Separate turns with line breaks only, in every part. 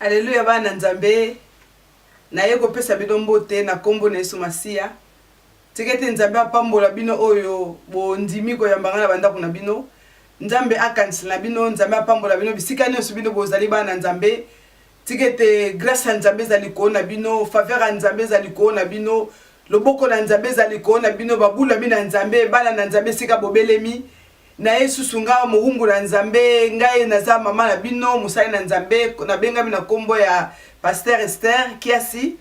aleluya bana nzambe naye kopesa bino mbote na nkombo na yesu masiya tika ete nzambe apambola bino oyo bondimi koyambanga na bandako na bino nzambe akanisela na bino nzambe apambola bino bisika nyonso bino bozali bana nzambe Tika ete grace ya Nzambe ezala likolo na bino, faveur ya Nzambe ezala likolo na bino, loboko na Nzambe ezala likolo na bino, babulami na Nzambe, bana na Nzambe esika bobelemi. Na ye susu nga mowumbu na Nzambe, ngai naza mama na bino, mosali na Nzambe, nabengami na kombo ya Pasteur Esther Kiasi.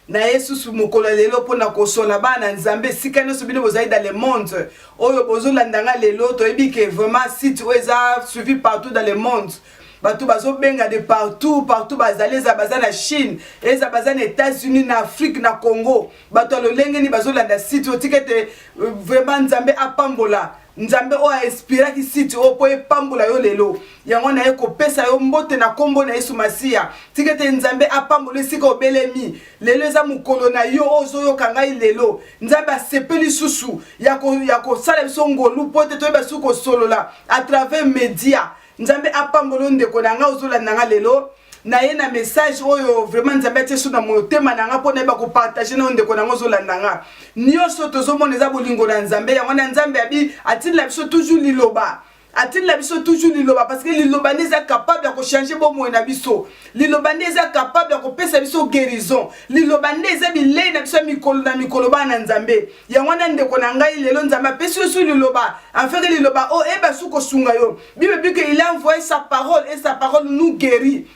na ye susu mokolo ya lelo mpo na kosola bana nzambe esika nyonso bino bozali dans le monde oyo bozolanda nga lelo toyebi ke vraiment site oyo eza suivi partout dans le monde bato bazobenga de partout partout bazali eza baza na chine eza baza na états-unis na afrique na congo bato ya lolenge nini bazolanda site oyo tika ete euh, vraiment nzambe apambola nzambe oyo ainspiraki site oyo mpo epambola yo lelo yango naye kopesa yo mbote na nkombo na yesu masiya tika ete nzambe apambola esika obelemi lelo eza mokolo na yo oyo ozoyoka ngai lelo nzambe asepeli lisusu ya kosala biso ngolu mpo ete toyeba lisusu kosolola à travers media nzambe apambola yo ndeko na ngai ozolanda ngai lelo naye na message oyo vraiment nzambe atie so na motema na ngai mpo nayeba kopartage na yo ndeko na yango ozolanda ngai nyonso tozomona eza bolingo na nzambe yango na nzambe abi atindela biso toujours liloba atindela biso toujours liloba parce que liloba nde eza capable ya kochange bomoi na biso liloba nde eza capable ya kopesa biso guérison liloba nde eza bilei na biso ya mikolo na mikolo bana na nzambe yango wana ndeko na ngai lelo nzambe apesi yo su liloba afeke liloba oyo oh, eba su kosunga yo bible bi ke il a envoye sa parole et sa parole nous guérit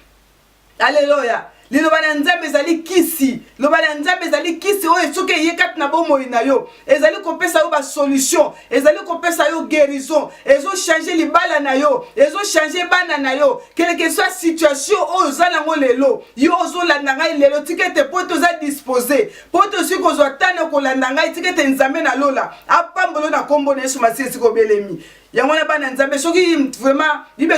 alleluya liloba na nzambe ezali kisi liloba na nzambe ezali kisi oyo soki eye kati na bomoi na yo ezali kopesa yo basolution ezali kopesa yo guérison ezochange libala na yo ezochange bana na yo keleke soit situation oyo oza nango lelo yo ozolanda ngai lelo tika ete mpo ete oza dispose mpo tozwi kozwa ntango ya kolanda ngai tika ete nzambe na lola apambolo na nkombo na yesu masiya esika obelemi yango wana bana nzambe soki vraiment bible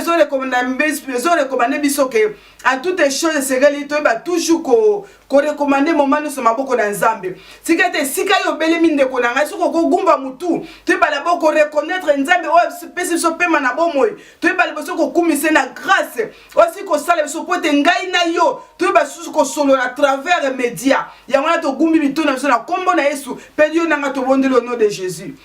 ezorekomande biso ke en toute chose esengeli toyeba toujours korekomande moma nyonso maboko na nzambe tika ete esika yo obelemi ndeko na ngai soki okogumba motu toyeba labo koreconnaitre nzambe oyo apesi biso pema na bomoi toyeba liboso kokumise na grâce osi kosala biso mpo ete ngai na yo toyeba lisusu kosolola travers media yango wana togumbi mito na biso na nkombo na yesu mpe yo na ngai tobondeli au nom de jésus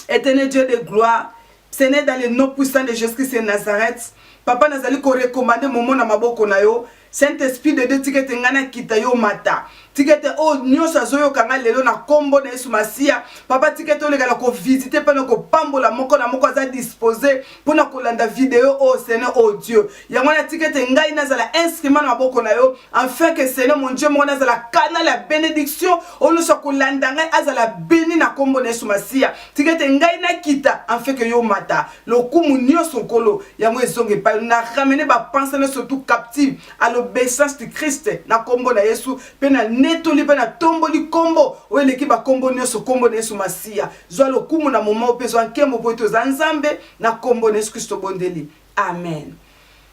éternel dieu de gloire ce n'est dans le nom puissant de jésus christ de nazareth papa nazali korekomande momo na maboko na yo saint esprit de dieu tika ete ngai nakita yo mata tikete oyo oh, nyonso azoyoka ngai lelo na nkombo na yesu masiya papa tikete olekana kovisite mpe na kopambola moko na moko aza dispose mpo na kolanda video oyo oh, seigneur o oh, dieu yango wana tikete ngai nazala instrument na maboko na yo enfin ke seigneur mon dieu moko nazala kanal ya benediction oyo nyonso akolanda ngai azala beni na nkombo na yesu masiya tikete ngai nakita enfin ke yo mata lokumu nyonso nkolo yango ezonga epai na ramene bapense nyonso tout captive à l'obéissance du Christ na kombo na Yesu pe na netoli pe na tomboli kombo oyo eleki ba kombo nyonso kombo na Yesu Masiya zwa lokumu na moment pe zwa nkembo po ete oza Nzambe na kombo na Yesu Kristo bondeli amen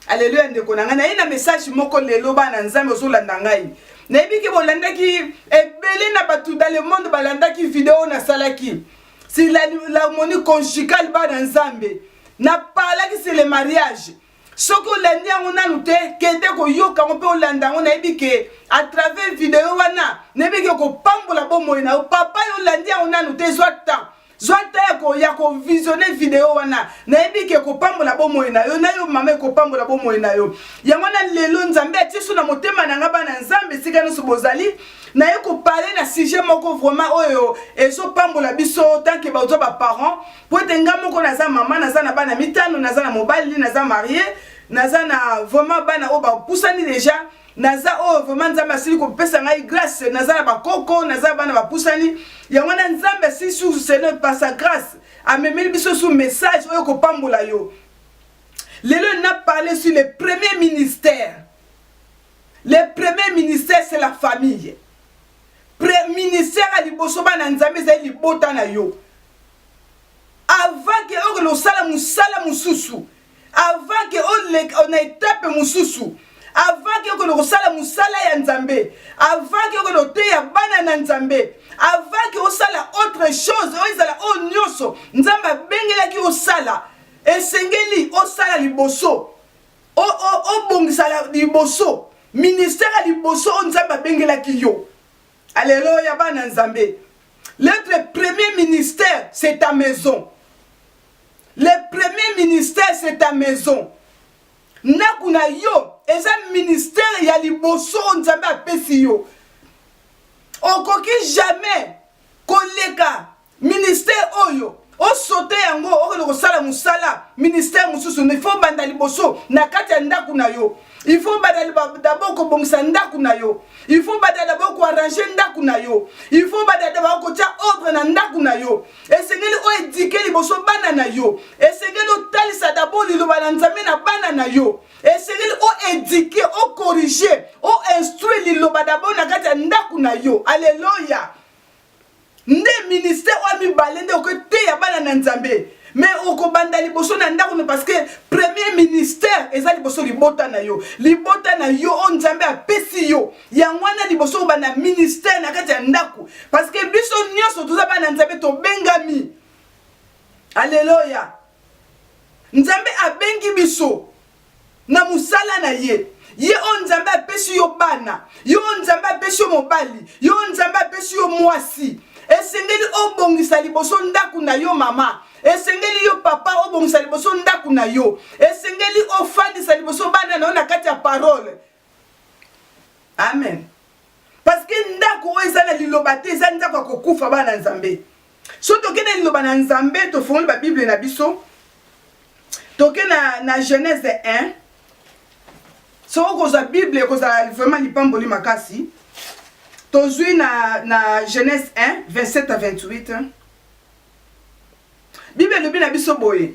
Alléluia ndeko na ngai naye na message moko lelo bana Nzambe ozolanda ngai nayebi ke bolandaki ebele na bato dans le monde balandaki video nasalaki si l'harmonie conjugale bana Nzambe napalaki c'est le mariage soki olandi yango nanu te kende koyoka yango mpe olanda yango nayebi ke à travers video wana nayebi ke okopambola bomoi na yo papa yo olandi yango nanu te zwa temps zwa temps ya kovisione video wana nayebi ke ekopambola bomoi na yo na yo mama ekopambola bomoi na yo yango na lelo nzambe atieso na motema na nga bana nzambe esika nyonso bozali naye kopale na sujet moko vraiment oyo ezopambola biso tanke bazwa baparent mpo ete nga moko naza mama naza na bana mitano naza na mobali naza marie naza na vraiment bana oyo bapusani deja naza oyo oh, vraiment nzambe asili kopesa ngai grâce naza na bakoko naza bana bapusani yango wana nzambe asili susu seigneur par sa grâce amemeli biso su message oyo kopambola yo lelo na parle sur le premier ministère le premier ministère c'est la famille Pre ministère ya liboso bana Nzambe ezali libota na yo. Avant que okende osala mosala mosusu, avant que oleka na etape mosusu, avant que okende kosala mosala ya Nzambe, avant que okende oteya bana na Nzambe, avant que osala autre chose, oyo ezala oyo nyonso Nzambe abengelaki osala, esengeli osala liboso Obongisa ya liboso, ministère ya liboso oyo Nzambe abengelaki yo. Aleloya bana Nzambe. L'être premier ministère, c'est ta maison. Le premier ministère, c'est ta maison. Ndako na yo eza ministère ya liboso oyo Nzambe apesi yo. Okoki jamais koleka Ministère oyo o sauter yango okende kosala musala ministère mususu mais faut banda liboso na kati ya ndaku na yo il faut banda d'abord kobongisa ndaku na yo il faut banda d'abord ko arranger ndaku na yo il faut banda d'abord kotia ordre na ndaku na yo esengeli o éduquer liboso bana na yo esengeli otalisa d'abord liloba na nzambe na bana na yo esengeli o éduquer o corriger o instruire liloba d'abord na kati ya ndaku na yo alleluia nde ministère oyo mibale nde okoteya bana na nzambe me okobanda liboso na ndako no parce que premier ministère eza liboso libota na yo libota na yo oyo nzambe apesi yo yango wana liboso kobanda ministère na kati ya ndako parce que biso nyonso toza bana nzambe tobengami aleloya nzambe abengi biso Na mosala na ye. Ye oyo Nzambe apesi yo bana, yo oyo Nzambe apesi yo mobali, yo oyo Nzambe apesi yo mwasi, esengeli obongisa liboso ndako na yo mama, esengeli yo papa obongisa liboso ndako na yo, esengeli ofandisa liboso bana na yo na kati ya parole. Amen. Parce que ndako oyo eza na liloba te, eza ndako ya kokufa bana Nzambe. So toke na liloba na Nzambe, tofongoli ba Bible na biso. Toke na na Genèse 1. So okozwa Bible ekozala vraiment lipamboli makasi. Tozwi na na Genèse 1 27 à 28. Bible elobi na biso boye.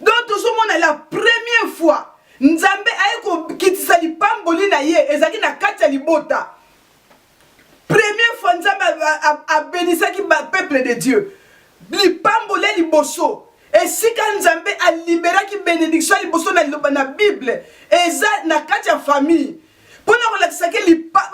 donc tozomona la première fois nzambe aye kokitisa lipamboli na ye ezalaki na kati ya libota première fois nzambe abenisaki bapeuple de dieu lipamboli ya liboso esika nzambe aliberaki benediction ya liboso na liloba na bible eza na kati ya famille mpo na kolakisa ke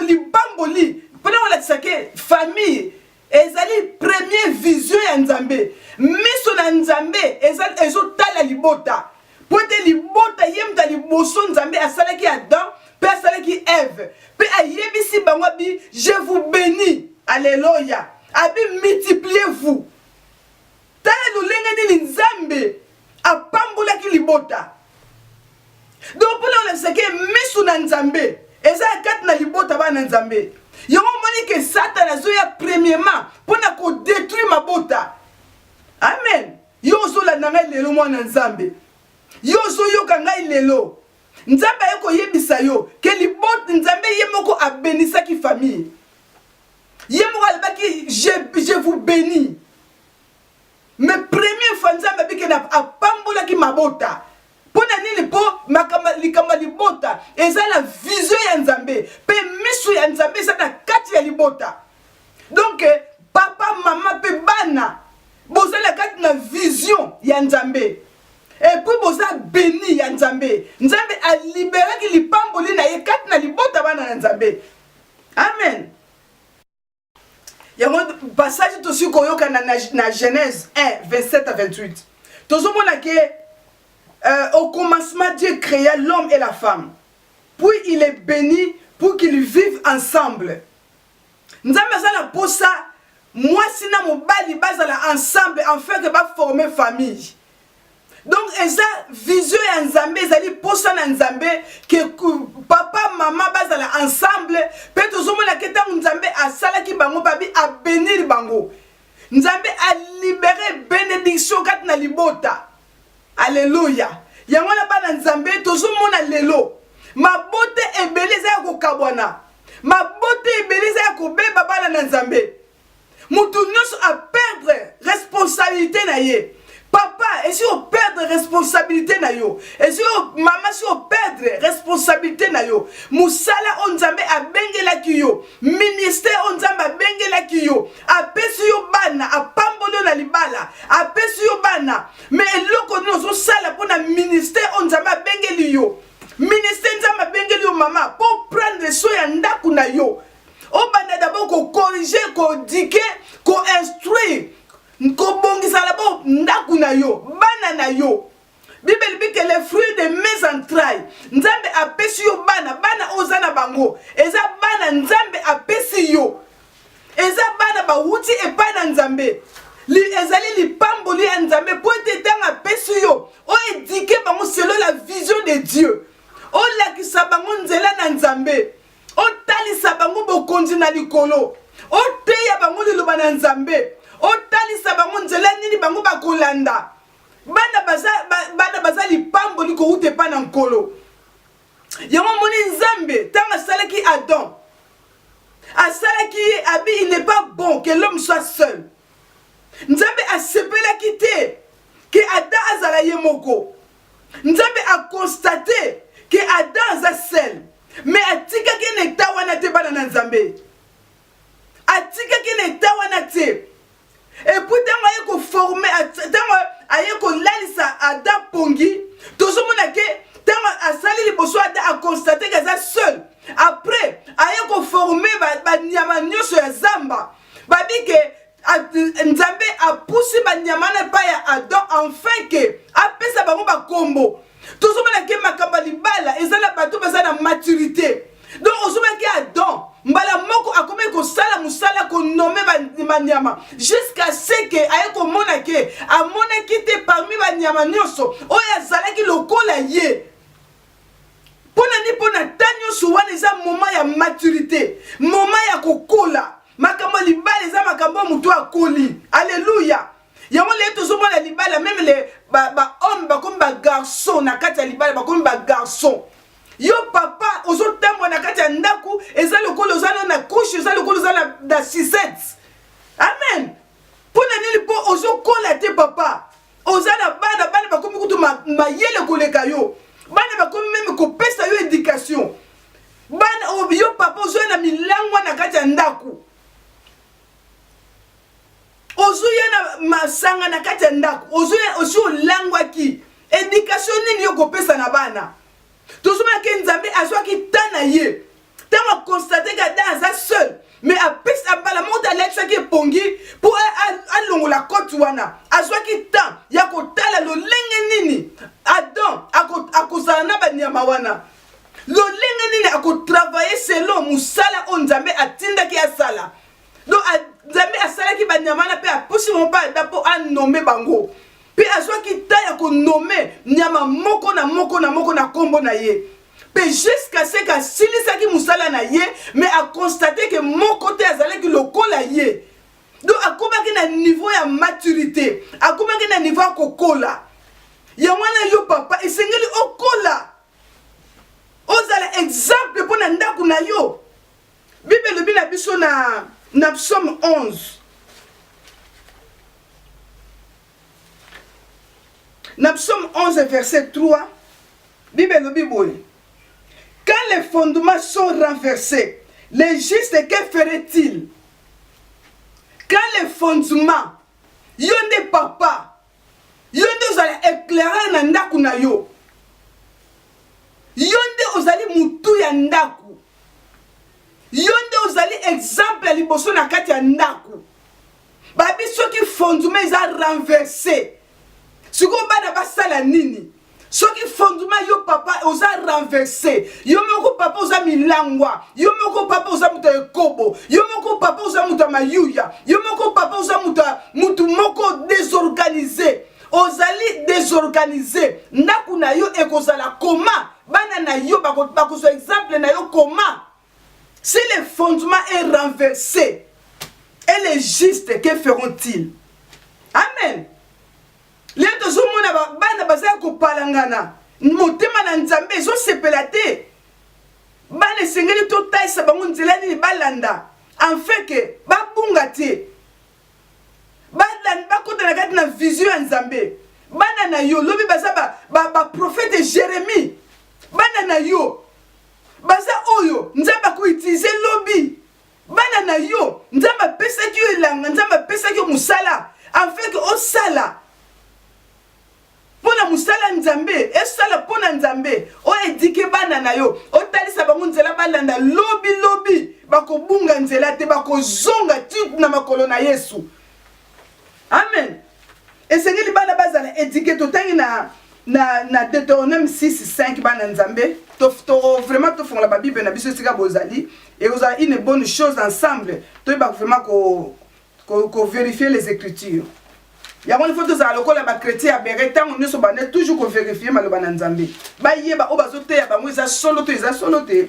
lipamboli mpo na kolakisa ke famille Ezali premier vision ya Nzambe. Miso na Nzambe eza ezotala libota. Mpo ete libota ye moto ya liboso Nzambe asalaki Adam mpe asalaki Eve mpe ayebisi bango abi je vous beni. Aleloya. Abi multipliez vous. Tala lolenge nini Nzambe apambolaki libota. Donc mpo na kolakisa ke miso na Nzambe eza ya kati na libota bana na Nzambe. Yango omoni ke Satana azoya premièrement mpo na kodetruire mabota. Amen. Yo ozolanda ngai lelo mwana Nzambe. Yo ozoyoka ngai lelo. Nzambe aye koyebisa yo ke libota Nzambe ye moko abenisaki famille. Ye moko alobaki je, je vous bénis. Mais premier fois Nzambe abikeli apambolaki mabota mpo na nini? Mpo makambo likambo ya libota eza na vision ya Nzambe mpe miso ya Nzambe eza na kati ya libota. Donc papa mama mpe bana bozali na kati na vision ya Nzambe epuis boza beni ya Nzambe. Nzambe aliberaki lipamboli na ye kati na libota bana na Nzambe. Amen. yango passage tosi koyoka na, na, na genèse 1 27 à 28 tozomona ke euh, au commencement dieu créa l'homme et la femme puis il est béni pour qu'ils vivent ensemble nzambe aza na mposa mwasi na mobali bazala ensemble enfin ke baforme famille donc eza vision ya nzambe ezali mposa na nzambe ke papa mama bazala ensemble mpe tozomonake ntango nzambe asalaki bango babi abenir bango nzambe alibere benediction kati na libota aleluya yango wana bana nzambe tozomona lelo mabota ebele eza ya kokabwana mabota ebele eza ya kobeba bana na nzambe Mutu nyoso a perdre responsabilite na ye. Papa, esi o perdre responsabilite na yo. Esi o mama si o perdre responsabilite na yo. Musala o Nzambe abengelaki yo, ministère o Nzambe abengelaki yo, apesi yo bana, apamboli yo na libala, apesi yo bana. Mais eloko nini ozo sala pona ministère o Nzambe abengeli yo? Ministère Nzambe abengeli yo mama, po prendre soin ya ndaku na yo. obanda d'abord ko corriger ko dike ko instruire kobongisa labo ndako na yo bana na yo bibele ebi ke le fruit de mes entrailles nzambe apesi yo bana bana oyo oza na bango eza bana nzambe apesi yo eza bana bawuti epai na nzambe li, ezali lipamboli ya nzambe mpo ete ntango apesi yo oedike bango selo la vision de dieu olakisa bango nzela na nzambe otalisa bango bokonzi na likolo oteya bango liloba na nzambe otalisa bango nzela nini bango bakolanda bana baza, ba, bana baza lipamboli kowuta epai na nkolo yango omoni nzambe ntango asalaki adam asalaki ye abi il n'est pas bon que l'homme soit seul nzambe asepelaki te ke adam azala ye moko Nzambe a constate que Adam aza seul mais atikaki ye na etat wana te bana na Nzambe. Atikaki ye na etat wana te. Et puis tango aye ko former tango aye kolalisa Adam pongi tozomona ke tango asali liboso Adam a constate que aza seul. Après aye ko former ba, ba nyama nyonso ya zamba. Babike nzambe apusi banyama na epai ya adam enfin ke apesa bango bakombo tozomona ke makambo ya libala eza na bato baza na maturité donc ozomaki adam mbala moko akomaki kosala mosala konome banyama jusqu'à ce ke aye komona ke amonaki te parmi banyama nyonso oyo azalaki lokola ye Pona ni pona temps nionso wana eza moment ya maturite, moment ya kokola. Makambo ya libala eza makambo oyo moto akoli. Alleluia. Yango lelo tozomona libala meme le ba, ba homme bakomi ba garçon na kati ya libala bakomi ba garçon. Yo papa ozotambwa na kati ya ndako eza lokola oza na couche, eza lokola oza na, na sisette. Amen. Pona nini po ozokola te papa. oza na bana bana bakomi kutu mayele koleka yo bana bakomi meme kopesa yo education bana oh, yo papa ozoya na milangwa na kati ya ndako ozoya na masanga na kati ya ndako ozoya osi olangwaki education nini yo kopesa na bana tozomona ke nzambe azwaki temps na ye ntango akonstate ke ada aza seul me apesa mbala moko te alakisaki epongi mpo alongola kote wana azwaki temps ya kotala lolenge nini adam akozala na banyama wana lolenge nini akotravaye selon mosala oyo nzambe atindaki asala donc nzambe asalaki banyama wana mpe apusi bango mpe ada mpo anome bango Mpe azwaki ntan ya konome nyama moko na moko na moko na nkombo na ye. Mpe jusqu'à ce que asilisaki mosala na ye, mais a constate que moko te azalaki lokola ye. Donc akomaki na niveau ya maturité, akomaki na niveau ya kokola. Yango wana yo papa, esengeli okola, ozala exemple mpo na ndako na yo. Bible elobi na biso na, na psaume 11 na psaume 11 verset 3 Bible elobi boye quand les fondements sont renversés les justes que ferait-il quand les fondements yo nde papa yo nde ozala eclaireur na ndako na yo yo nde ozali motu ya ndako yo nde ozali exemple ya liboso na kati ya ndako babi soki fonduma eza renverse sikoyo bana basala nini soki fondement yo papa oza renverse yo moko papa oza milangwa yo moko papa oza moto ya ekobo yo moko papa oza moto ya mayuya yo moko papa oza moto ya motu moko désorganise ozali désorganise ndako na yo ekozala koma bana na yo bakozwa exemple na yo koma si le fondement est renversé et le juste que feront-ils amen lelo tozomona bana baza ya kopalangana motema na nzambe ezosepela te bana esengeli totalisa bango nzela nini balanda enfeke babunga te bakota na kati na vision ya nzambe bana na yo lobi baza baprofete ba, ba jeremie bana na yo baza oyo nzambe akoutilize lobi bana na yo nzambe apesaki yo elanga nzambe apesaki yo mosala afin ke osala mpo na mosala nzambe esala mpo na nzambe oedike bana na yo otalisa bango nzela balanda lobi lobi bakobunga nzela te bakozonga ti na makolo na yesu amen esengeli bana bazala edike totangi na na, na deuteronome 65 bana nzambe to, to, vraiment tofongola babible na biso esika bozali ekozala une bonne chose ensemble toyeba vraiment ko, ko, ko vérifier les écritures yango ifo tozala lokola bakretien ya bere ntango nyonso banda toujours koverifie maloba na nzambe bayeba oyo bazoteya bango eza solo to eza solo te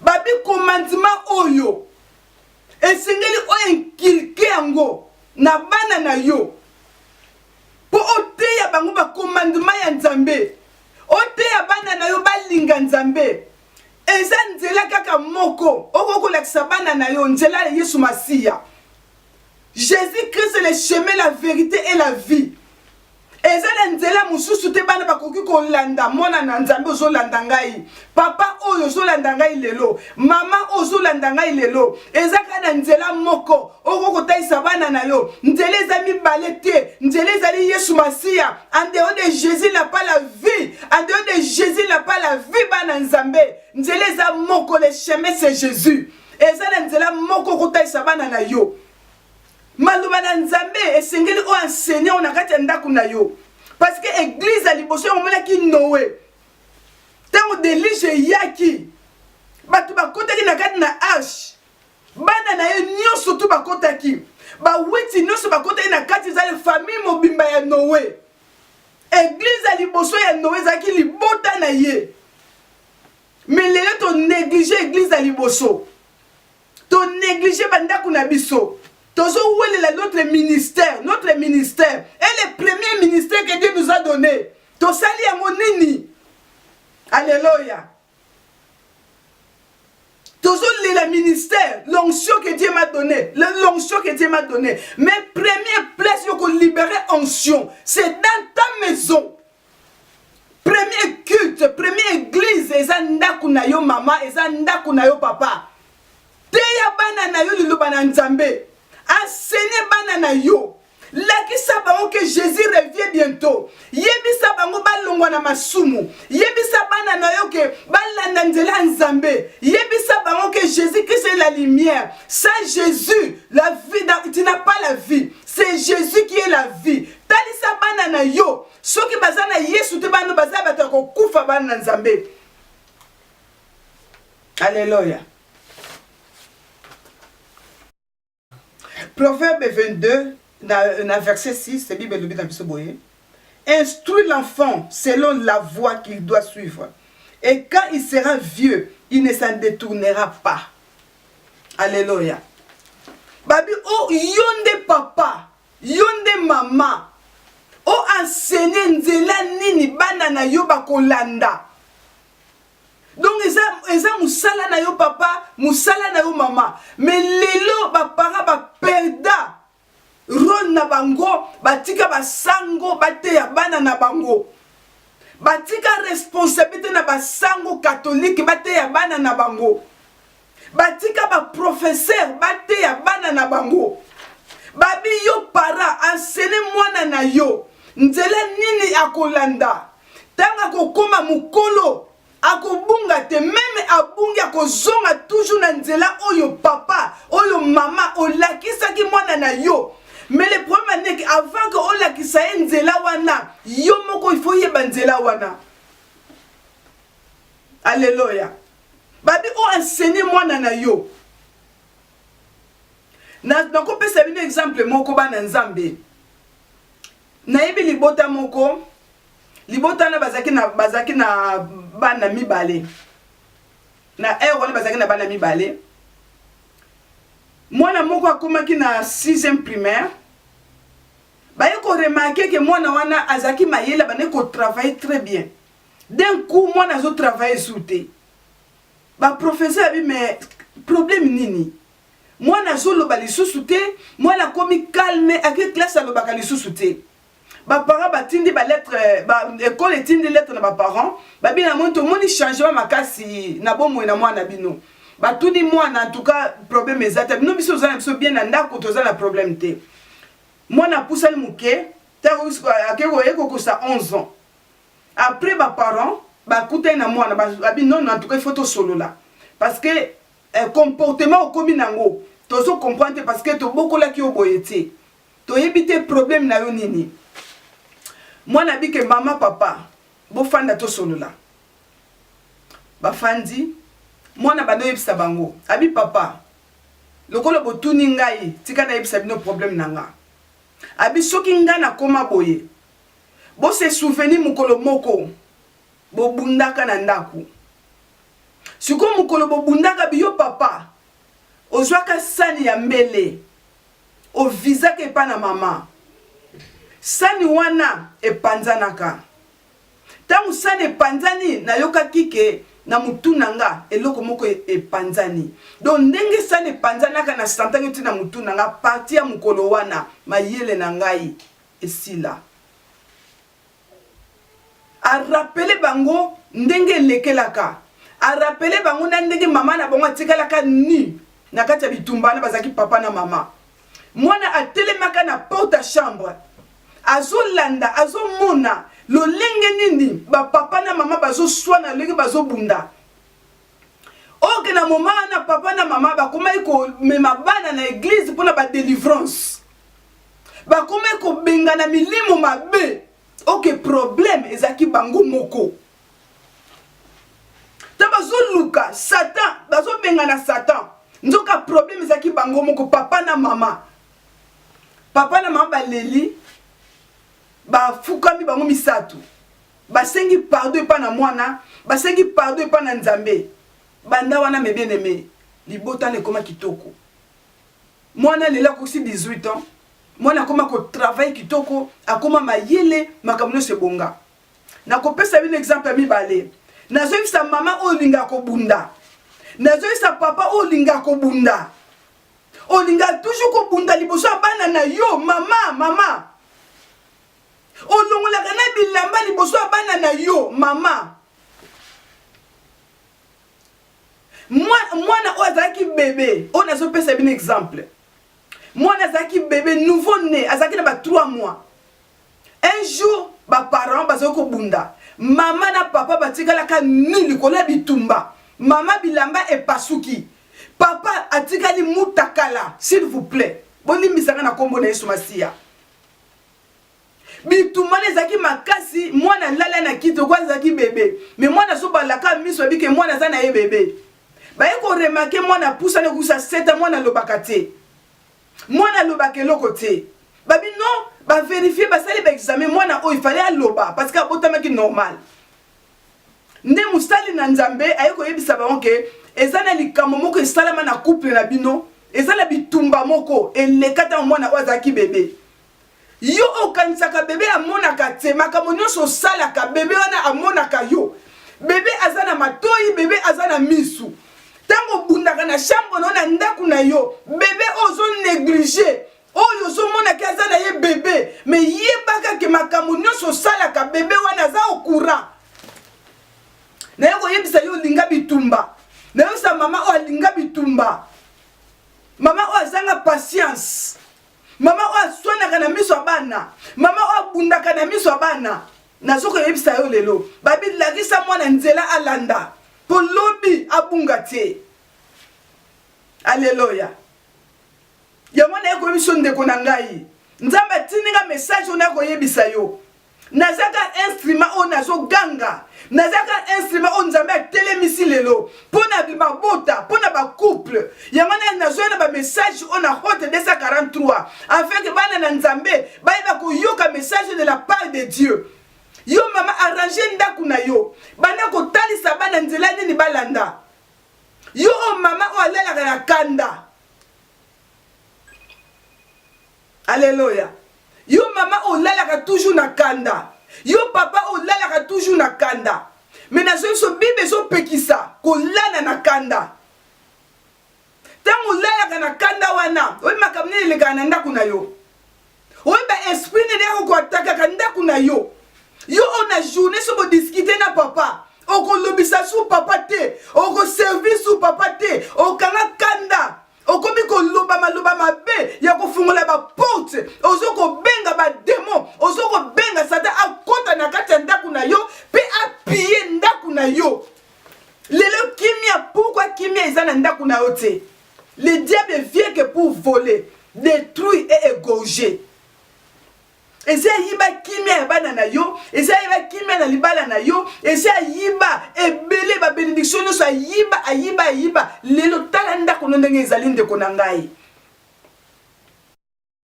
Babikomandima oyo esengeli o enkilke yango na bana na yo mpo oteya bango bakomandima ya Nzambe, oteya bana na yo balinga Nzambe. Eza nzela kaka moko okoki kolakisa bana na yo nzela ya Yesu Masiya. Jesus Christ le chemin la verite et la vie eza na nzela mosusu te bana bakoki kolanda mwana na nzambe ozolanda ngai papa oyo ozolanda ngai lelo mama oyo ozolanda ngai lelo eza kaka na nzela moko okoki kotalisa bana na yo nzela eza mibale te nzela ezali yesu masiya andeo de jésus na pas la vie andeo de jésus na pas la vie bana nzambe nzela eza moko le chemin c'est jésus eza na nzela moko kotalisa bana na yo maloba na nzambe esengeli o enseigner o na kati ya ndako na yo parce que église ya liboso yango omonaki noe ntango delige eyaki bato bakotaki na kati na arche bana na ye nyonso tu bakotaki bawiti nyonso bakotaki na kati ezali famille mobimba ya noe eglize ya liboso ya noe ezalaki libota na ye Mais lelo to negliger église ya liboso. To negliger ba ndaku na biso. Tozo welela notre ministère, notre ministère et le premier ministère que Dieu nous a donné. Tosali yango nini? Alléluia. la ministère l'onction que dieu m'a donné l'onction que dieu m'a donné mais première place libérer onction c'est dans ta maison premier culte premier église eza ndako na yo mama eza ndako na yo papa teya bana na yo liloba na nzambe asene bana na yo lakisa bango ke jésus revie bientôt yebisa bango balongwa na masumu yebisa bana na yo ke balanda nzela ya nzambe yebisa bango ke jésus krist est la lumière sans jésus la vie tu n'as pas la vie c'est jésus qui est la vie Talisa bana na yo soki baza na Yesu te, bana baza bato ya kokufa, bana na Nzambe. Aleloya. Proverbe 22 na, na verset 6, Bible elobi na biso boye. Instruis l'enfant selon la voie qu'il doit suivre. Et quand il sera vieux, il ne s'en détournera pas. Alléluia. Babi, oh, yonde papa, Yo nde mama, o enseigner nzela nini bana na yo bakolanda. Donc eza, eza musala na yo papa, musala na yo mama. Mais lelo ba parents ba perda role na bango, batika ba sango bateya bana na bango. Batika responsabilite na ba sango catholique bateya bana na bango. Batika ba professeur bateya bana na bango. Babi yo para ensene mwana na yo nzela nini akolanda ntango akokoma mokolo akobunga te meme abungi akozonga toujours na nzela oyo papa oyo mama olakisaki mwana na yo mais le problème aneke avant que olakisa ye nzela wana yo moko ifo yeba nzela wana aleloya Babi o enseigner mwana na yo. Na nako pesa bino exemple moko bana Nzambe. Nayebi libota moko libota wana bazaki na bazaki na bana mibale. Na heure wana bazaki na bana mibale. Mwana moko akomaki na 6e primaire baye ko remarquer que mwana wana azaki mayele bande ko travailler très bien d'un coup mwana azo travailler sur te ba professeur abi mais problème nini mwana azoloba lisusu te mwana akomi calme ake classe alobaka lisusu te baparent batindi balettre ekole euh, etindi lettre na baparent babi na moni tomoni changement makasi na bomoi na mwana bino batuni mwana antuka problème eza te bino biso toza na biso bien na ndako toza na problème te mwana apusani moke ntango akekoye kokosa 11 ans Après ba parents ba kutani na muana ba bi non en tout cas il faut to solola parce que eh, comportement okomi nango tozo comprendre te parce que to bokolaki yo boye te to yebi te problème na yo nini muana bi ke maman papa bo fanda to solola ba fandi muana ba no yebisa bango abi papa lokola botuni ngai tika na yebisa bino problème na nga abi soki nga na koma boye Bo se souvenir mokolo moko bo bundaka na ndaku sikoyo mokolo bo bundaka biyo papa ozwaka sani ya mbele o visaka epa na mama sani wana epanzanaka tangu sani epanzani na yokaki ke na mutu na nga eloko moko epanzani donc ndenge sani epanzanaka na santaki ti na mutu na nga parti ya mokolo wana mayele na ngai Esila. A rappeler bango ndenge elekelaka. A rappeler bango na ndenge mama na bango atikalaka nu na kati ya bitumba wana bazalaki papa na mama. Mwana atelemaka na porte ya chambre. Azolanda, azomona lolenge nini ba papa na mama bazoswana, lolenge bazobunda. oke na moma wana papa na mama bakomaki komema bana na eglize mpona badelivrance bakomaki kobengana milimo mabe oke probleme ezalaki bango moko ta bazoluka satan bazobengana satan nzoka probleme ezalaki bango moko papa na mama papa na mama baleli bafukami bango misato Basengi pardon epa na muana, basengi pardon epa na Nzambe. Banda wana mes bien aimes, libota wana ekoma kitoko. Muana lelo akokisi 18 ans, muana akoma ko travailler kitoko, akoma mayele, makambo nionso ebonga. Nakopesa bino exemple ya mibale. Nazoyebisa mama oyo olingaka kobunda. Nazoyebisa papa oyo olingaka kobunda. Olingaka toujours kobunda liboso ya bana na yo, mama, mama. olongolaka na bilamba liboso ya bana na yo mama mwana oyo azalaki bebe oyo nazopesa bino exemple mwana azalaki bebe nouveau né azalaki na ba 3 mois un jour baparent bazali kobunda mama na papa batikalaka nu likolo ya bitumba mama bilamba epasuki papa atikali mutakala s'il vous plaît bolimbisaka na nkombo na yesu masiya bitumba wana ezalaki makasi mwana alala na kiti oko azalaki bebe me mwana azobalaka miso abike mwana aza na ye bebe baye koremake mwana apusani okusa seta mwana alobaka te mwana alobaka eloko te babi non baverifie basali baexame mwana oyo ifale aloba parce que abotamaki normal nde mosali na nzambe aye koyebisa bango ke eza na likambo moko esalama na couple na bino eza na bitumba moko eleka ntango mwana oyo azalaki bebe yo okanisaka bebe amonaka te makambo nyonso osalaka bebe wana amonaka yo bebe aza na matoi bebe aza na misu ntango obundaka na shambre no na ndako na yo bebe oyo ozoneglige oyo ozomonaki aza na ye bebe me yebaka ke makambo nyonso osalaka bebe wana aza okura naye koyebisa yo olinga bitumba nayosa mama oyo alinga bitumba mama oyo azanga patience mama oyo aswanaka na miso ya bana mama oyo abundaka na miso ya bana nazo koyebisa yo lelo babi lakisa mwana nzela alanda mpo lobi abunga te aleloya yango naye koyebi biso ndeko na ngai nzambe atindi nga message oyo naye koyebisa yo naza ka instrument oyo nazoganga naza ka instrument oyo nzambe atelemisi lelo mpo na mabota mpo na bacouple yango nani nazoya na bamessage oyo na hote 243 afin ke bana na nzambe bayeba koyoka message de la part de dieu yo mama arrange ndako na yo banda kotalisa bana nzela nini balanda yo oyo mama oyo alalaka na kanda Alleluia. Yo mama olalaka toujours na kanda. Yo papa olalaka toujours na kanda. Mais na biso Bible ezopekisa kolala na kanda. Tango olalaka na kanda wana, oyebi makambo nini elekaka na ndako na yo. Oyebi ba esprit nini yako koatakaka ndako na yo. Yo oyo na journée soki bodiskite na papa, okolobisa su papa te, okoservir su papa te, okanga kanda. okomi koloba maloba mabe ya kofungola baporte ozo kobenga bademo ozo kobenga satan akota na kati ya ndako na yo mpe apiye ndako na yo lelo kimia pourkui kimia eza na ndako na yo te le diable vient que pour voler détruire et égorger eza ya yiba kimia ya bana na yo eza yiba kimia na libala na yo eza ya yiba ebele ba benediction nyonso ayiba ayiba ayiba lelo tala ndako no ndenge ezali ndeko na ngai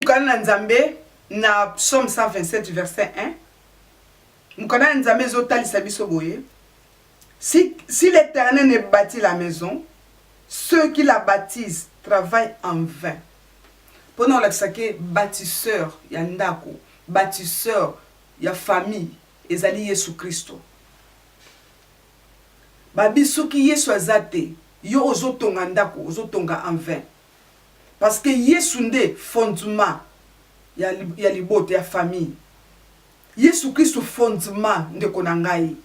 mokana na nzambe na psaume 127 verset 1 mokana na nzambe ezotalisa biso boye si, si l'éternel ne bâtit la maison ceux qui la baptisent travaillent en vain pona olakisa ke batisseur ya ndaku batisseur ya famille ezali yesu christo babi soki yesu aza te yo ozo tonga ndaku ozo tonga en vain parce que yesu nde fondement ya, ya libota ya famille yesu christo fondement ndeko na ngai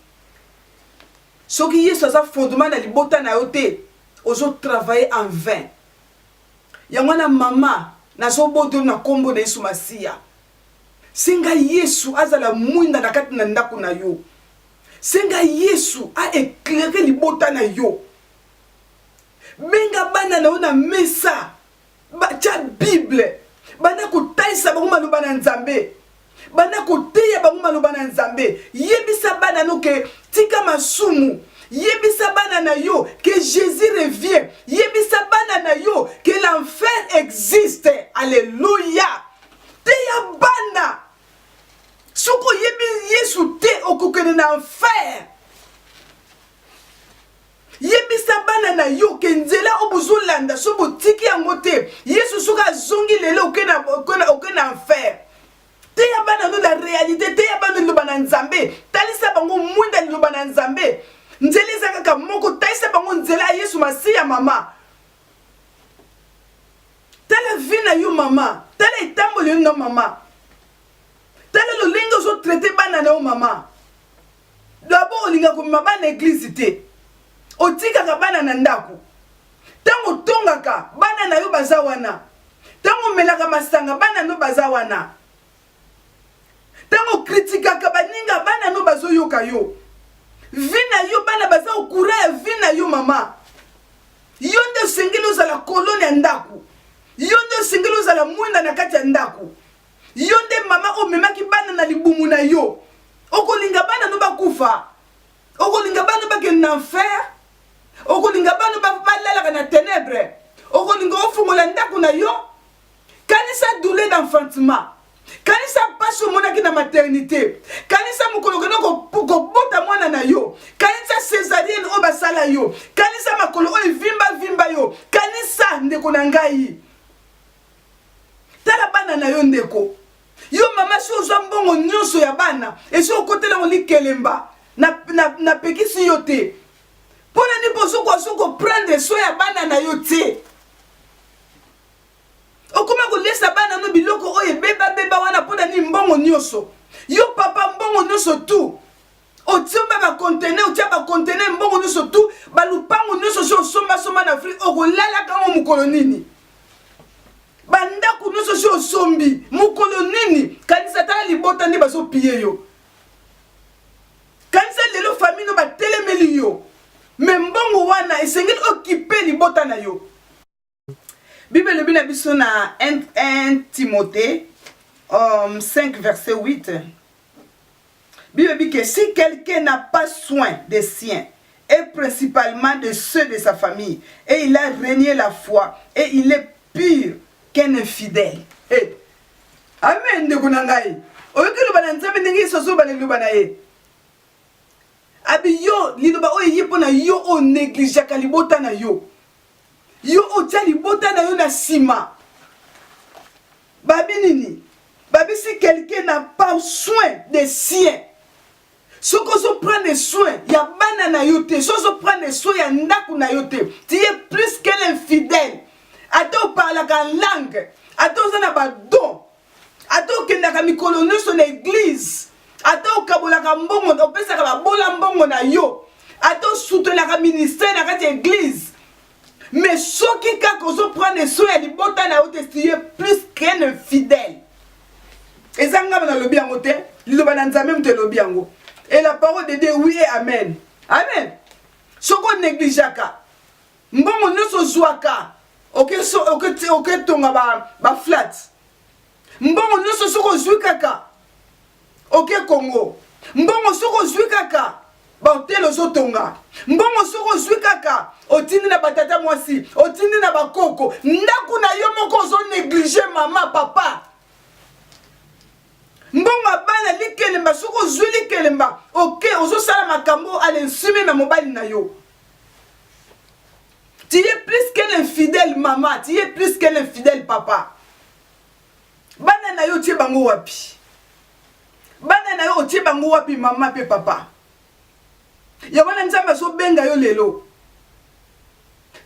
soki yesu aza fondement na libota na yo te ozo travailler en vain Yango wana mama, nazobotoli na kombo na Yesu Masiya. Senga Yesu azala mwinda na kati na ndako na yo. Senga Yesu a eclairer libota na yo. Benga bana na yo na mesa, batya Bible, banda kotalisa bango maloba na Nzambe. Banda koteya bango maloba na Nzambe. Yebisa bana no ke tika masumu. Yebisa bana na yo ke Jesus revient. Yebisa bana na yo ke l'enfer existe. Alleluia. Teya bana. Soki oyebi Yesu te, okokende na enfer. yebisa bana na yo ke nzela oyo bozolanda soki botiki yango te yesu soki azongi lelo oke na, oke na, oke na enfer teya bana no na réalité teya bana liloba na nzambe talisa bango mwinda liloba na nzambe nzela eza kaka moko talisa bango nzela ya yesu masiya mama tala vi na yo mama tala etamboli yo na mama tala lolenge ozotraite bana na yo mama D'abord olinga komema bana eglise te. Otikaka bana na ndako. Tango otongaka bana na yo baza wana. Tango omelaka masanga bana no baza wana. Tango kritikaka baninga bana no bazoyoka yo. Vie na yo bana baza au courant ya vie na yo mama. Yo nde osengeli ozala kolone ya ndako. Yo nde osengeli ozala mwinda na kati ya ndako. Yo nde mama omemaki bana na libumu na yo. Okolinga bana no bakufa? Okolinga bana bakende na enfer? Okolinga bana balalaka na tenebre? Okolinga ofungola ndako na yo? Kanisa doule d'enfantement. kanisa mpasi omonaki na maternité kanisa mokolo okenda kobota mwana na yo kanisa césarienne oyo basala yo kanisa makolo oyo evimba vimba yo kanisa ndeko na ngai tala bana na yo ndeko yo mama si ozwa mbongo nyonso ya bana esi okotela yango likelemba napekisi na, na yo te mpo na nini bozokoka so koprendre so ya bana na yo te okoma kolesa bana no biloko oyo ebebabeba wana mpo na nini mbongo nyonso yo papa mbongo nyonso tu osomba ba conteneur otia ba conteneur mbongo nyonso tu balupango nyonso osi osombasomba na afrike okolalaka yango mokolo nini bandako nyonso osi osombi mokolo nini kanisa tala libota nde bazopiye yo kanisa lelo fami no batelemeli yo me mbongo wana esengeli okipe libota na yo Bible elobi na biso na 1 Timothée um, 5 verset 8 Bible dit que si quelqu'un n'a pas soin des siens, et principalement de ceux de sa famille, et il a renié la foi, et il est pur qu'un infidèle. Hey. Amen, ndeko na ngai. Oyoki loba na Nzambe ndenge Yesu azoba na liloba na ye. Abi yo liloba oyo eye mpo na yo oyo negligeaka libota na yo. Yo otia libota na yo na sima. Babi nini? Babi si quelqu'un n'a pas soin des siens. soki ozo prendre soin ya bana na yo te soki ozo prendre soin ya ndako na yo te tu es plus qu'un infidèle ata oparlaka langue ata oza na badon ata okendaka mikolo nyonso na eglize ata okabolaka mbongo opesaka babola mbongo na yo ata osutenaka ministère na kati ya eglize mais soki kaka ozoprendre soin ya libota na yo te tu es plus qu'un infidèle eza ngai nalobi yango te liloba na nzambe moto elobi yango et la parole de dieu oui et amen amen soki onegligeaka Mbongo nyonso ozwaka oke so oke oke tonga ba ba flat. Mbongo nyonso soki ozwi kaka oke Congo. Mbongo soki ozwi kaka bahotel ozotonga mbongo soki ozwi kaka otindi na batata mwasi otindi na bakoko ndako na yo moko ozo neglige mama papa mbongo ya bana likelemba soki ozwi likelemba oke okay, ozosala makambo alensimi na mobali na yo Tu es plus qu'un infidèle maman, tu es plus qu'un infidèle papa. Bana na yo tie bango wapi? Bana na yo otie bango wapi mama pe papa? Ya wana Nzambe azobenga yo lelo.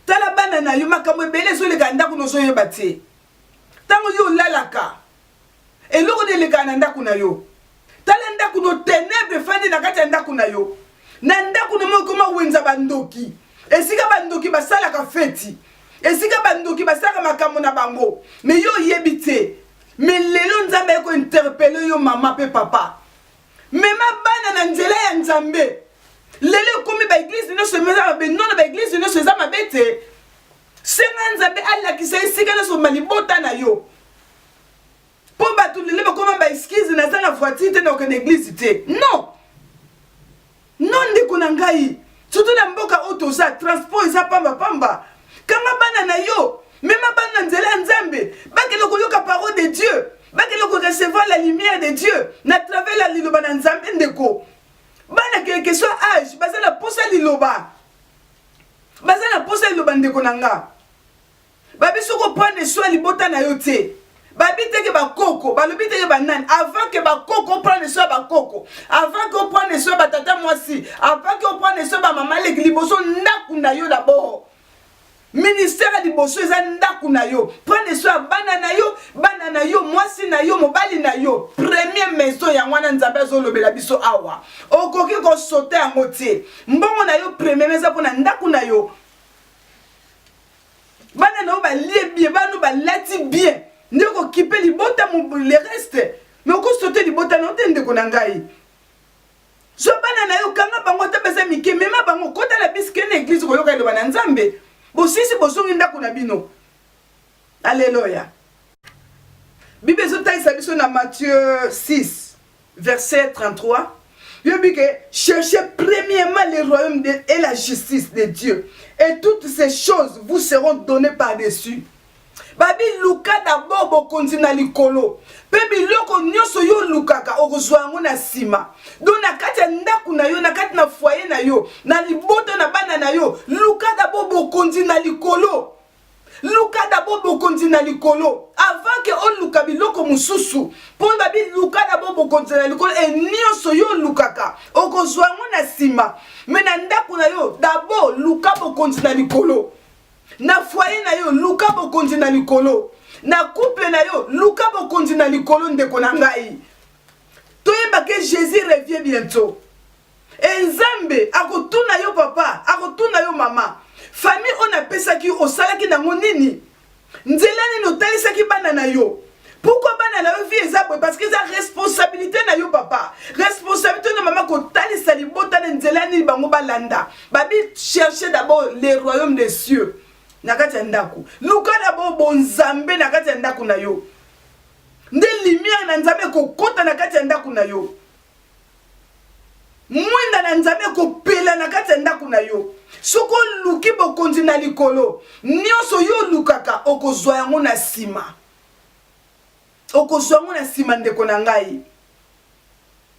Tala bana na yo makambo ebele ezoleka ndako nozoyeba te. Ntango yo olalaka Eloko nde elekaka na ndako na yo. Tala ndako no tenebre efandi na kati ya ndako na yo. Na ndako na moi ekoma wenza bandoki. Esika bandoki basalaka feti. Esika bandoki basalaka makambo na bango. Me yo oyebi te. Me lelo Nzambe aye kointerpele yo mama pe papa. Mema bana na nzela ya Nzambe. Lelo ekomi ba eglise nyonso eza mabe. Non na ba eglise nyonso eza mabe te. Senga Nzambe alakisa esika nyonso malibota na yo. Po bato lelo bakoma ba excuse naza na voiture te na okende eglise te. Non. Non ndeko na ngai. Surtout na mboka oyo toza transport eza pamba pamba. Kanga bana na yo, mema bana na nzela ya Nzambe, bakende koyoka parole de Dieu. bakende korecevoir la lumière de dieu na travers ya liloba na nzambe ndeko bana quelque soit age baza na mposa liloba baza na mposa liloba ndeko na nga Babi soki opane soin libota na yo te babi teke bakoko balobi teke banani avant ke bakoko oprendre soin ya bakoko avant ke oprendre soin batata mwasi avant ke oprendre soin bamama leki liboso ndako na yo dabord ministère ya liboso eza ndako na yo prendre soin ya bana na yo bana na yo mwasi na yo mobali na yo premier maison yango wana nzambe azolobela biso awa okoki kosota yango te mbongo na yo premierme eza mpo na ndako na yo bana na yo balie bien bana balati bien nde okokipe libota le reste me okosote libota na yo te ndeko na ngai zwa bana na yo kanga bango ata baza mike mema bango kota na bisi kende eglize koyoka eloba na nzambe bosisi bozongi ndako na bino aleloya bible ezotalisa biso na matthieu 6 Verset 33 lobi que cherchez premièrement le royaume de, et la justice de Dieu et toutes ces choses vous seront données par-dessus. babi luka dabord bokonzi na likolo mpe biloko nyonso yo olukaka okozwa yango na nsima do na kati ya ndako na yo na kati na fwaye na yo na libota na bana na yo luka dabord bokonzi na likolo Luka d'abord bokonzi na likolo avant que oluka biloko mosusu mpo babi luka d'abord bokonzi na likolo e nyonso yo olukaka okozwa yango na nsima me na ndako na yo d'abord luka bokonzi na likolo na foye na yo luka bokonzi na likolo na couple na yo luka bokonzi na likolo ndeko na ngai toyebake jésus revie bientôt E Nzambe akotuna yo papa, akotuna yo mama, famille oyo napesaki yo osalaki nango nini? Nzela nini otalisaki bana na yo? Pourquoi bana na yo vie eza boye? Parce que eza responsabilité na yo papa, responsabilité na mama kotalisa libota na nzela nini bango balanda. Babi chercher d'abord les royaumes des cieux na kati ya ndako, luka d'abord bonzambe na kati ya ndako na yo, nde lumière na Nzambe ekokota na kati ya ndako na yo. Mwinda na Nzambe ekopela na kati ya ndako na yo. Soki oluki bokonzi na likolo, nyonso yo olukaka okozwa yango na nsima. Okozwa yango na nsima, ndeko na ngai.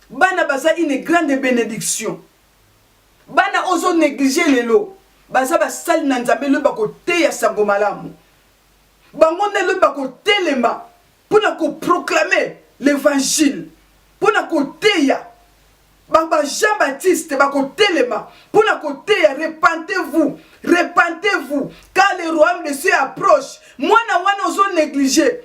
Bana baza une grande benediction. Bana ozo neglige lelo baza basali na Nzambe lobi bakoteya sango malamu. Bango nde lobi bakotelema mpo na ko proclamer l'evangile, mpo na koteya ba ba Jean Baptiste bakotelema mpo na koteya repentez-vous, repentez-vous car le royaume de Dieu approche. Mwana wana ozo negliger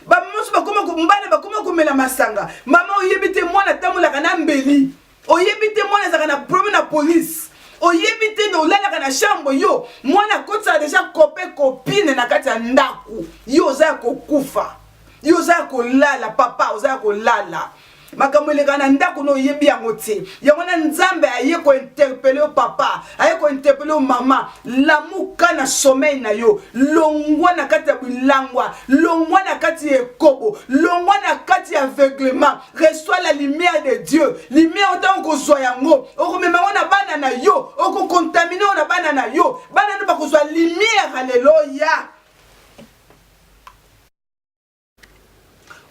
bamama mosusu bakoma mbala bakoma komela masanga mama oyebi te mwana atambolaka na mbeli oyebi te mwana ezalaka na problème na police oyebi te na olalaka na chambre yo mwana akotisaka deja kope kopine na kati ya ndako yo oza ya kokufa yo oza ya kolala papa oza ya kolala makambo elekaka na ndako na oyebi yango te yango wana nzambe aye kointerpele yo papa aye kointerpele yo mama lamuka na somei na yo longwa na kati ya bilangwa longwa na kati ya ekobo longwa na kati ya aveuglement reçois la lumière de dieu lumière otango kozwa yango okomema yango na bana na yo okokontamine yango na bana na yo bana nde bakozwa lumière aleloya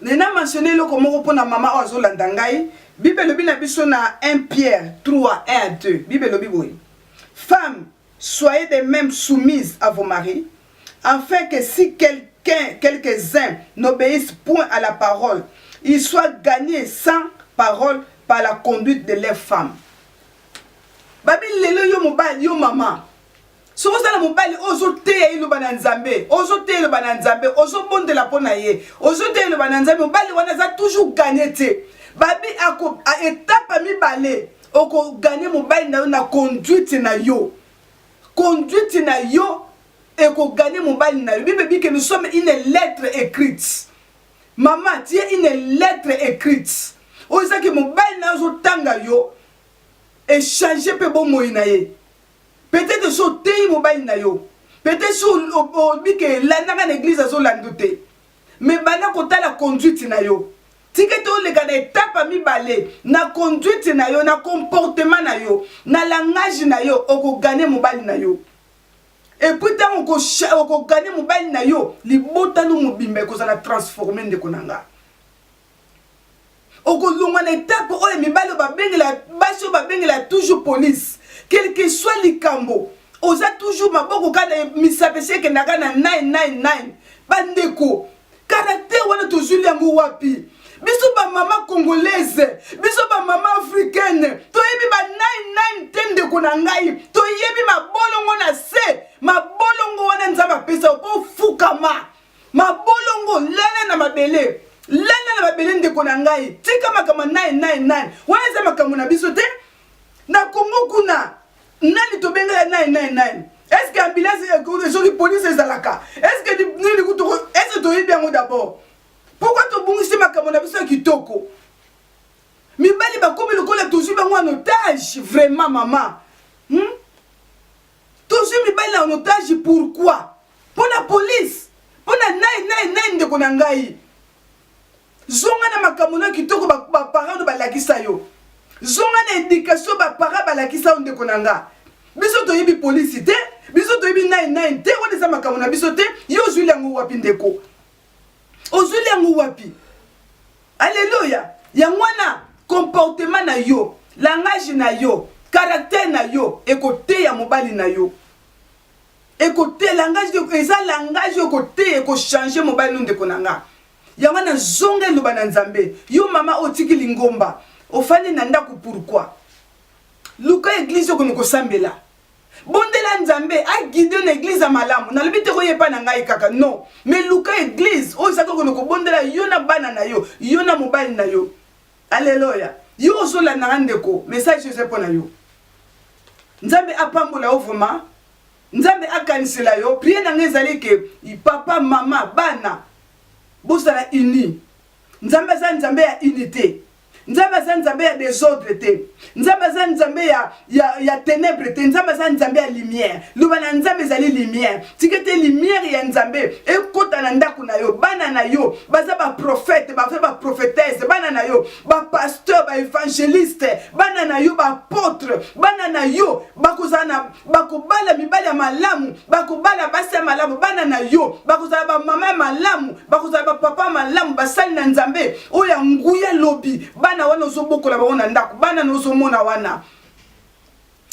nena mentionne eloko moko mpo na mama oyo azolanda ngai bible elobi na biso na 1 pierre 3 1 à 2 bible elobi boye femme soyez de même soumise à vos maris Afin que si quelqu'un, quelques-uns n'obeyissent point à la parole, ils soient gagnez sans parole par la conduite de leurs femmes. Babi lelo yo mobali, yo mama, soki oza na mobali oyo ozoteya eloba na nzambe ozoteya eloba na nzambe ozobondela mpo na ye ozoteya eloba na nzambe mobali wana aza toujours gagne te babi etape ya mibale okoganye mobali na yo na conduite na yo Conduite na yo eko gagner mobali na yo. Bible dit que nous sommes une lettre ecrite. Maman, tu es une lettre ecrite. Oyo eza ke mobali na yo azo tanga yo echange mpe bomoi na ye peut-être so oteyi mobali na yo peut-être so obi ke elandaka na eglise azolanda te mais banda kotala conduite na yo tika ete oleka na etape ya mibale na conduite na yo na comportement na yo na langage na yo okogane mobali na yo epuis ntango okogane mobali na yo libota no mobimba ekozala transforme ndeko na nga okolongwa na etape oyo mibali oyo babengela basi oyo babengela toujours police quelque soit likambo oza toujours maboko kaka misape esi ekendaka na 999 bandeko Caractère wana tozwili yango wapi? Biso ba mama congolaise, biso ba mama africaine, toyebi ba nine nine te ndeko na ngai, toyebi mabolongo na se, mabolongo wana Nzambe apesa po fukama. Mabolongo lala na mabele. Lala na mabele ndeko na ngai. Tika makambo nine nine nine. Wana eza makambo na biso te. na congo kuna nani tobengela nani nani nani est-ce que ambulance soki police ezalaka est-ce que nini kutu est-ce que toyebi yango d'abord pourquoi tobungisi makambo na biso ya kitoko mibali bakomi lokola tozwi bango en otage vraiment mama hmm? tozwi mibali en otage pourquoi mpo na police mpo na nai nai nai ndeko na ngai Zonga na makambo na kitoko ba parents ba lakisa yo. Zonga na education ba parents ba lakisa yo ndeko na nga. Biso toyebi police te, biso toyebi nine nine te, wana eza makambo na biso te. Yo ozwili yango wapi ndeko? Ozwili yango wapi? Alléluia. Yango wana comportement na yo, langage na yo, caractère na yo ekoteya mobali na yo ekote langage eza langage okoteya ekochange mobali no ndeko na nga Yango wana zonga eloba na nzambe. Yo mama oyo otiki lingomba ofandi na ndaku pourquoi? Luka eglise oyo kende kosambela. Bondela nzambe a guide na eglise ya malamu. Nalobi te koya epa na ngai kaka non. Mais luka eglise oyo ezaki okende kobondela yo na bana na yo, yo na mobali na yo. Aleloya. Yo ozolanda nga ndeko, message eza mpo na yo. Nzambe apambola yo vraiment. Nzambe akanisela yo. Prière na nga ezali ke papa, mama, bana bozala unis. Nzambe aza Nzambe ya unite. Nzambe aza Nzambe ya desordre te. Nzambe aza Nzambe ya, ya, ya tenebre te. Nzambe aza Nzambe ya lumière. Loba na Nzambe ezali lumière. Tika ete lumière ya Nzambe ekota na ndako na yo. Bana na yo baza ba prophète, baza ba prophétesse. Bana na yo ba pasteur, ba evangeliste. Bana na yo ba apôtre. Bana na yo bakozala na bakobala mibali ya malamu bakobala basi ya malamu bana na yo bakozala bamama ya malamu bakozala bapapa ya malamu basali na nzambe oyo ya nguya lobi bana wana ozobokola bango na ndako bana na ozomona wana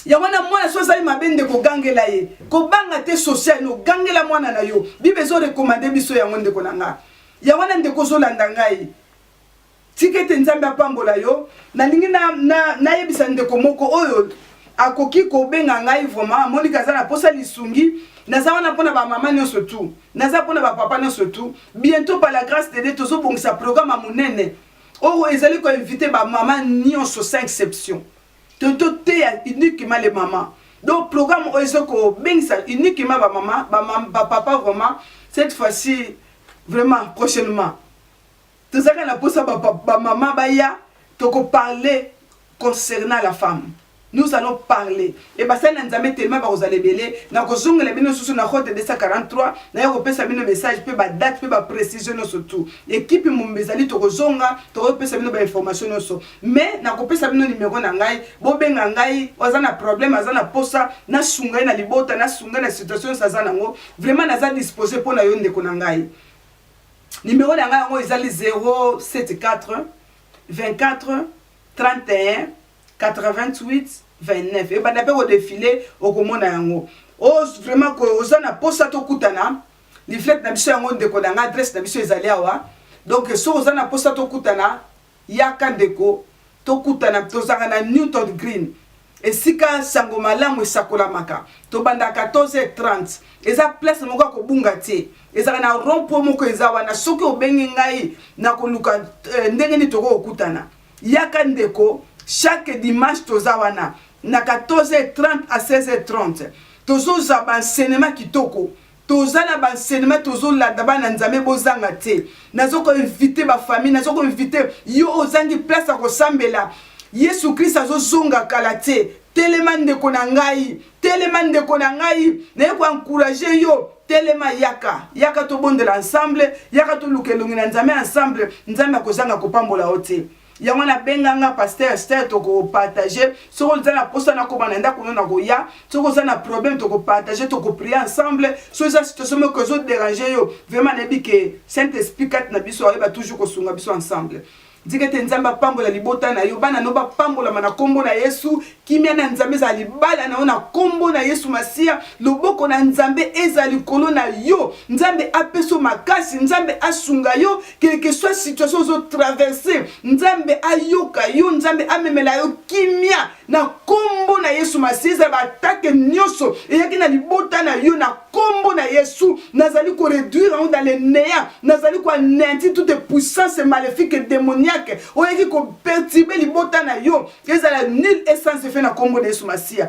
yango wana mwana soki azali mabe nde kogangela ye kobanga te social no gangela mwana na yo bible ezorekomande biso yango ndeko na nga yango wana ndeko ozolanda ngai Tika ete Nzambe apambola yo. Nalingi na, na, nayebisa ndeko moko oyo akoki kobenga ngai vraiment, amoni kaza na posa lisungi. Naza wana mpona ba mama nyonso tu, naza mpona ba papa nyonso tu. Bientôt par la grâce de Dieu tozobongisa programme ya monene oyo ezali ko inviter ba mama nyonso sans exception, to toteya uniquement les mamans. Donc programme oyo ezo kobengisa uniquement ba mama, ba, ba papa vraiment cette fois-ci vraiment prochainement Tozalaka na posa ba ba maman baya toko parler concernant la femme. Nous allons parler et basali na Nzambe tellement bakozala ebele nakozongela bino lisusu na route 243 naya kopesa bino message pe ba date pe ba precision nionso tout equipe mumba ezali tokozonga tokopesa bino ba information nionso mais nakopesa bino numero na ngai bobenga ngai aza na problème aza na posa nasunga ye na libota nasunga ye na situation nionso aza nango vraiment naza dispose mpo na yo ndeko na ngai Numero na ngai yango ezali 074 24 31 88 29 ebanda mpe kodefile okomona yango o oh, vraiment oza na mposa tokutana liflete na biso yango ndeko na ngai adresse na biso ezali awa donc soki oza na mposa tokutana Yaka ndeko tokutana tozalaka na Newton Green esika sango malamu esakolamaka tobanda 14h30 eza place moko ya kobunga te ezalaka na rond point moko eza wana soki obenge ngai na koluka ndenge nini toko kokutana yaka ndeko chaque dimanche toza wana na 14h30 à 16h30 tozoza ba enseignement kitoko Toza na ba enseignement tozo landa bana nzambe bozanga te nazo ko invite ba famille nazo ko invite yo ozangi place ya kosambela yesu christ azo zonga kala te telema ndeko na ngai telema ndeko na ngai naye ko encourager yo telema yaka yaka tobondela ensemble yaka toluka elongi na nzambe ensemble nzambe akozanga kopambola yo te yango na benga nga pasteur Esther toko partager soki oza na posa na koma na ndako na koya soki oza na problème toko partager toko prier ensemble soki eza situation moko ezo déranger yo vraiment na yebi que Saint Esprit kati na biso ayeba toujours kosunga biso ensemble ndike te nzambe apambola libota na yo bana no bapambolama na nkombo na yesu kimia na nzambe ezala libala na yo na nkombo na yesu masiya loboko na nzambe ezala likolo na yo nzambe apesa makasi nzambe asunga yo quel que soit situation ozo traverse nzambe ayoka yo nzambe amemela yo kimia na kombo na yesu masi ezala baatake nyonso eyaki na libota na yo na kombo na yesu nazali koreduire yango dans le néant nazali koaneanti toute puissance maléfique démoniaque oyaki kopertibe libota na yo ezala nul essence efe na kombo na yesu masiya